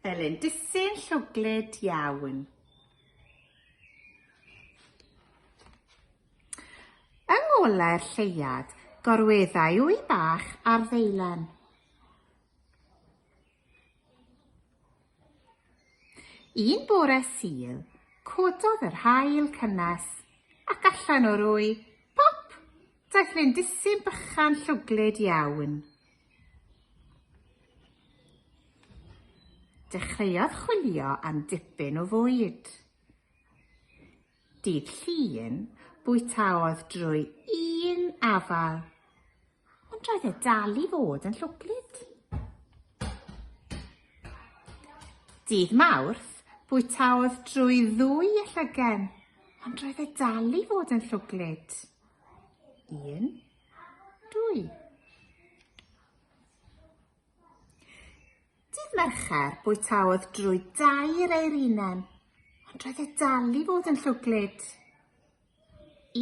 Elin, disyn llwglyd iawn. Yng ngolau'r lleiad, gorweddai wy bach ar ddeilen. Un bore sil, cododd yr hael cynnes, ac allan o'r wy, pop, daeth lindisyn bychan llwglyd iawn. Dechreuodd chwilio am dipyn o fwyd. Dydd Llun, bwytaodd drwy un afal, ond roedd e dal i fod yn llwglyd. Dydd Mawrth, bwytaodd drwy ddwy llygen, ond roedd e dal i fod yn llwglyd. Un, Dwy. Dydd Mercher bwytaodd drwy dair ei rinen, ond roedd e dal i fod yn llwglyd.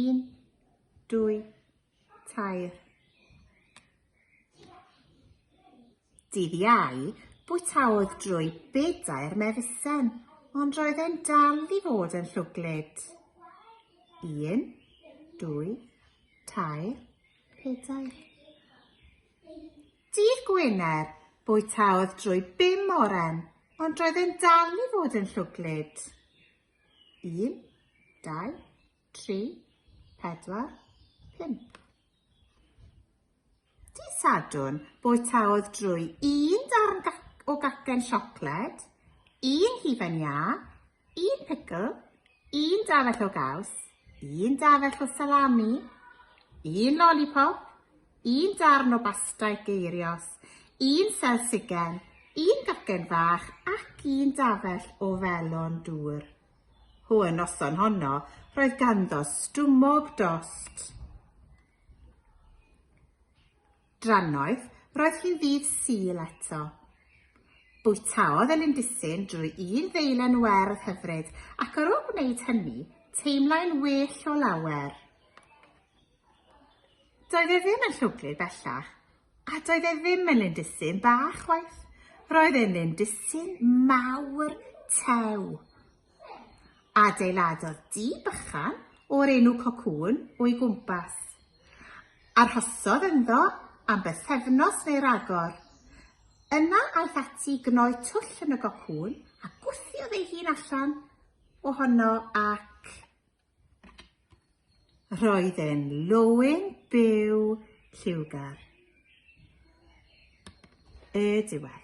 Un, dwy, tair. Dydd Iau, bwytaodd drwy bedair mefusen, ond roedd e'n dal i fod yn llwglyd. Un, dwy, tair, pedair. Dydd Gwener, bwytaodd drwy bum oren, ond roedd e'n dal i fod yn llwglyd. Un, dau, 3, 4, 5. Di Sadwn, bwytaodd drwy un darn o gacen siocled, un hufen iâ, un pickle, un dafell o gaws, un dafell o salami, un lollipop, un darn o basta geirios, un selsigen, un gacen fach ac un dafell o felon dŵr. Hw y noson honno roedd ganddo stumog dost. Drannoeth roedd hi'n ddydd Sul eto. Bwytaodd y lindisyn drwy un ddeilen werdd hyfryd ac ar ôl gwneud hynny, teimlai'n well o lawer. Doedd e ddim yn llwglyd bellach, a doedd e ddim yn lindisyn bach chwaith. Roedd e'n lindisyn mawr tew. Adeiladodd di bychan o'r enw cocŵn o'i gwmpas. Arhosodd ynddo am bythefnos neu ragor. Yna aeth ati gnoi twll yn y gocŵn a gwthiodd ei hun allan ohono ac... Roedd e'n lwyn byw lliwgar. Y diwedd.